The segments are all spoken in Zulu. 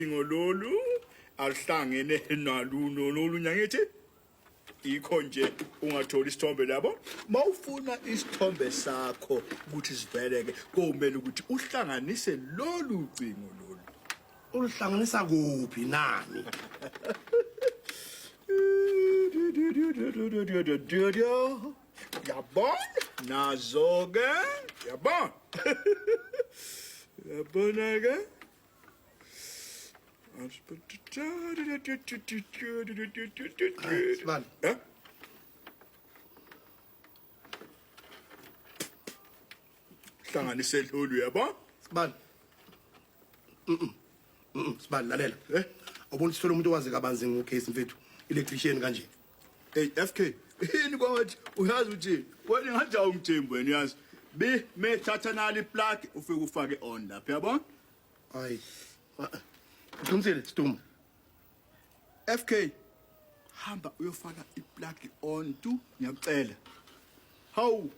ucingo lolu aluhlangene naluno nolunye angithi ikho nje ungatholi isithombe labo mawufuna isithombe sakho ukuthi siveleke komele ukuthi uhlanganise lolu cingo lolu uluhlanganisa kuphi nani yabona nazo ke yabona yabona ke Evet, ben. He? Sana ne sel oluyor bak? Sibali. Mm-mm. Mm-mm. Sibali lalela. Eh? Awubona ukuthi sithole umuntu owazi kabanzi ngocase mfethu. Electrician kanje. Hey FK, yini kwathi uyazi ukuthi wena ngathi awumthembu wena uyazi. Bi me thatha nali plug ufike ufake on lapha yabo? Hayi. Uqinisile Stum. FK hamba uyofaka iplug on tu ngiyakucela. Hawu.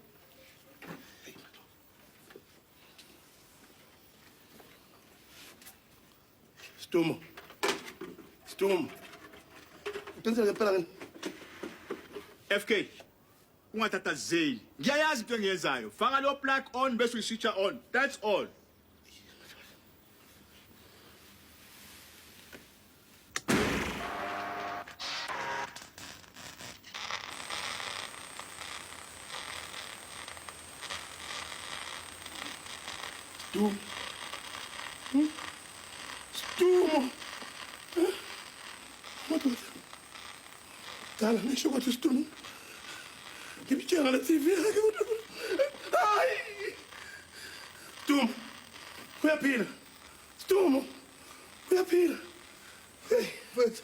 Stumo. Stumo. Uqinisile ngempela ngini? FK ungathathazeli. Ngiyayazi into engiyenzayo. Faka lo plug on bese uyiswitcha on. That's all. Stu. Stu. Madoda. Dala nisho ukuthi Stu. Ngibitshela le TV yakhe kodwa. Hayi. Stu. Uyaphila. Stu. Uyaphila. Hey, mfethu.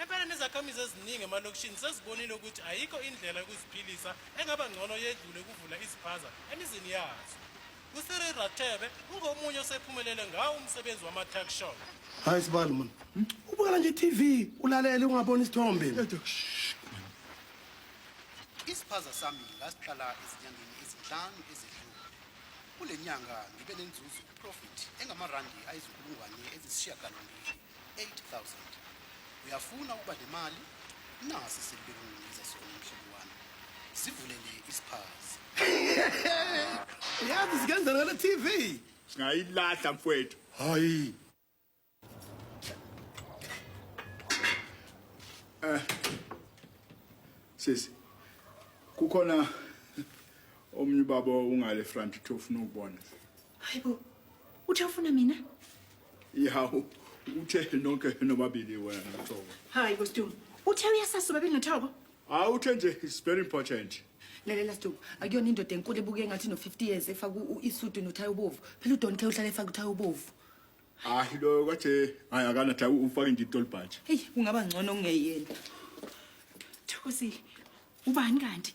Empela nezakhamizi eziningi emalokishini sezibonile ukuthi ayikho indlela yokuziphilisa engaba ngcono yedlule ukuvula iziphaza emizini yazo. USiri Rathebe ungomunye osephumelele ngawo umsebenzi wama-tuck shop. Hayi sibali mani. Ubukela nje i-TV ulalele ungaboni isithombe. Isiphaza sami ngasiqala ezinyangeni ezinhlanu ezedlule. Kule nyanga ngibe nenzuzo, profit, engamarandi ayizinkulungwane ezisishiyagalombili. 8000 uyafuna ukuba le mali nasi selibekunginiza sona mhlobo wami sivulele isiphazi uyazi sikenzela le tv singayilahla mfwethu hayi eh sisi kukhona omunye ubaba ungale front uthi ufuna ukubona hayibo uthi ufuna mina Ihawu uthe nonke nobabili wena noThoko. Hayi bo Sdumo. Uthe uyasasa ubabili noThoko? Hayi uthe nje it's very important. Lalela Sdumo, akuyona indoda enkulu ebuke engathi no 50 years efaka u- isudu nothaya obovu. Phela uDon Kay uhlale efaka uthaya obovu. Hayi lo kwathi hayi akana thawu ufake nje itolbhaji. Hey, kungaba ngcono ungeyena. Thokozile. Ubani kanti?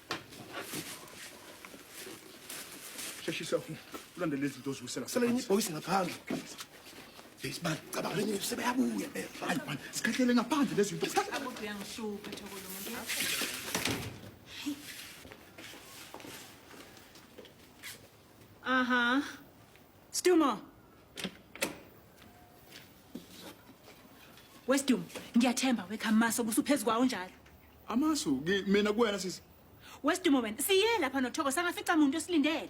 Sheshisa ulandele izinto oziwisela. Sele yini boys ngaphandle. Besibani cabanga lenye sebeyabuya phela. Hayi man, sikhahlele ngaphandle lezi zinto. Akuthi uyangishuka thoko lo muntu. Aha. Stumo. Westum, ngiyathemba wekhamasa ubusuphezukwa unjalo. Amasu ki- mina kuwena sisi. Wesidumo wena, siye lapha noThoko sangafica muntu esilindele.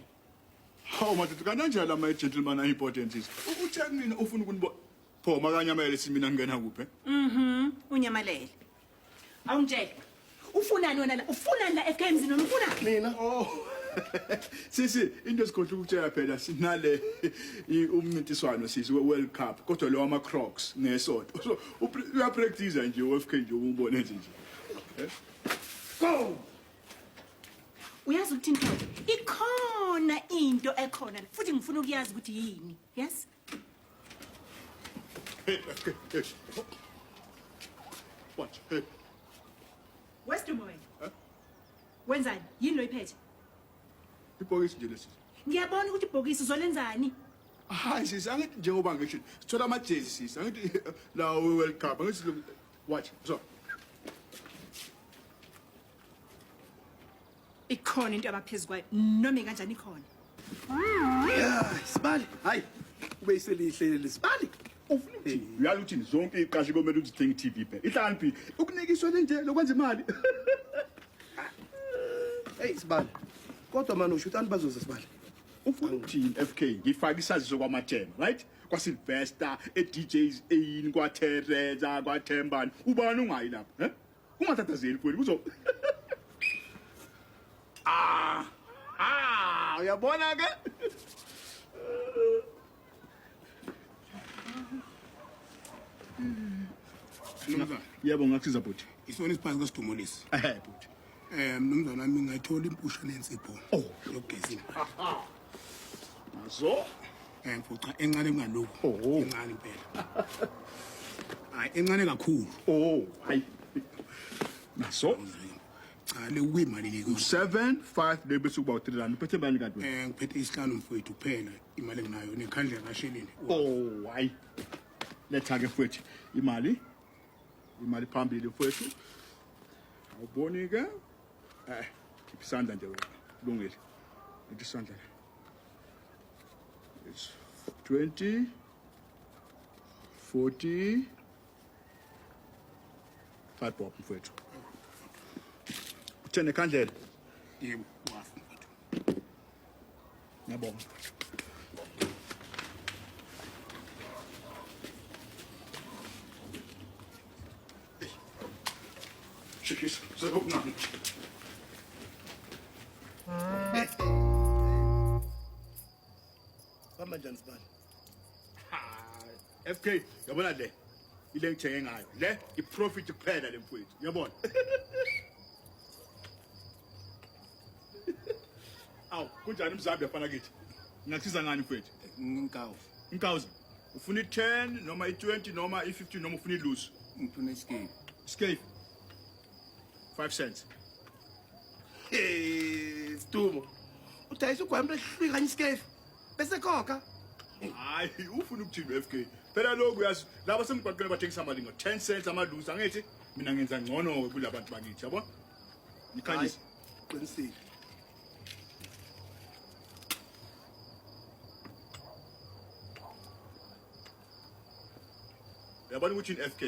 Hawu madoda kanti anjani ama gentleman ayi important sisi. U- Uthe kumina ufuna ukunibo. Pho makanyamele sisi mina ngingena kuphi? eh? Mhm, unyamalele. Awungitshele. Ufunani wena la? Ufunani la ekhaya emzini wami? Ufunani? Mina. Oh. Sisi into esikhohle ukutshela phela sinale i- umncintiswano sisi we World Cup kodwa lo wama Crocs ngesonto. So Upre- uyapractice nje uFK nje ubone nje nje uyazi ukuthi into ikhona into ekhona la, futhi ngifuna ukuyazi ukuthi yini yes hey FK hey watch hey wesdumo wena wenzani yini lo iphethe ibhokisi nje lesi ngiyabona ukuthi ibhokisi uzolenzani hayi sisi angithi njengoba ngisho sithola amajezi sisi angithi lawo we-world cup angithi lo- watch so ikhona into abaphezu kwayo noma ikanjani ikhona Yeah, sibali hayi ube iselihle leli sibali ufuna ukuthini uyala ukuthini zonke iy'qashi komele ukuthi zithenge i-tv phela ihlakaniphile ukunikiswa lenje lokwenza imali eyi sibala kodwa mani usho ukuthi anti bazoze sibala ufuna ukuthini f k ngifake isaziso kwamathema right kwasilvester e-djs eyini kwatereza kwathembani ubani ungayi lapho um ungathathazeli kweli kuzo ah ah uyabona ke Mnumzane, yebo ngakusiza bhuti. Isona isiphazi kwesidumulisi. Ehhe bhuti. Eh mnumzane wami ngayithola impusha nensipho. Oh, yogezini. Nazo eh mfuca encane kungalokho. Oh. Encane impela. Hayi encane kakhulu. Oh, hayi. Nazo cha le kuyimalini ke? 7 5 le bese kuba 3 rand. Uphethe bani kanti wena? Eh ngiphethe isihlanu mfowethu kuphela. imali enginayo nekhandlela kasheleni oh hayi letha ke futhi imali imali phambili futhi awuboni ke eh khipha isandla nje wena kulungile ngithi isandla la it's 20 40 5 bob mfethu uthene khandlela yebo Ngiyabonga. Çekil, sen okuna. Bamba njani sibali? FK, yabona le. Ile ngithenge ngayo. Le iprofit kuphela le mfowethu. Yabona. Awu, kunjani mzambi yafana kithi? Ngingasiza ngani mfethu? Ngikawu. Inkawuza. Ufuna i-10 noma i-20 noma i-15 noma ufuna i-loose? Ngifuna isikhefu. Isikhefu. 5 cents. Eh, Stumo. Udayisa ugwambe ehlwi kanye isikhefu. Bese khokha. Hayi, ufuna ukuthini FK? Phela lokhu uyazi, laba semgwaqeni bathengisa amalingo 10 cents amalusa ngithi mina ngenza ngcono ke kulabantu bakithi, yabo? Nikhanyise. Qinisile. Yabona ukuthi in FK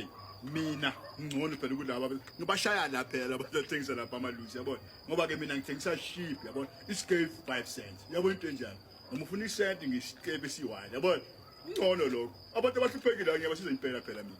mina ngcono phela kulaba ngibashaya la phela abathengisa lapha amaluzi yabona ngoba ke mina ngithengisa sheep yabona iscale 5 cents yabona into enjalo noma ufuna isent ngisikepe siwani yabona ngcono lokho abantu abahluphekile ngiyabasiza impela phela mina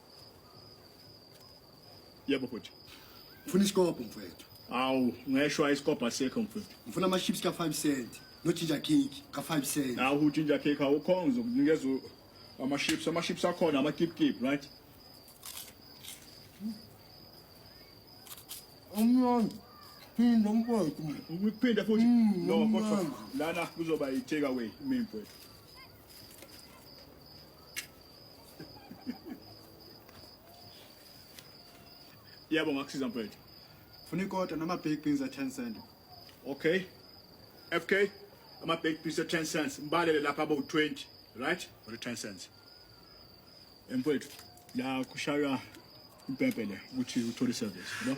Yebo bhuti. Ngifuna isikobho mfowethu. Awu, ngeshwa isikobho asekho mfowethu. Ngifuna ama chips ka 5 cent no ginger cake ka 5 cent. Awu uginger cake awukho ngizokunikeza u- ama chips, ama chips akhona ama kip kip, right? Umnandi. Phinda mfowethu. Ngikuphinde futhi. Mm, No, kodwa mnandi. lana kuzoba i take away mina mfowethu. Yebo ngakusiza mfethu. Funa ikota nama baked beans a 10 cent. Okay. FK ama baked beans a 10 cents. Mbalele lapha abo 20, right? Or 10 cents. Mfethu, la kushaywa impempe le ukuthi uthole service, no?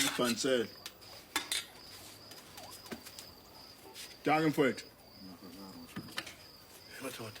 Ibhansela. Danke mfowethu. Madoda.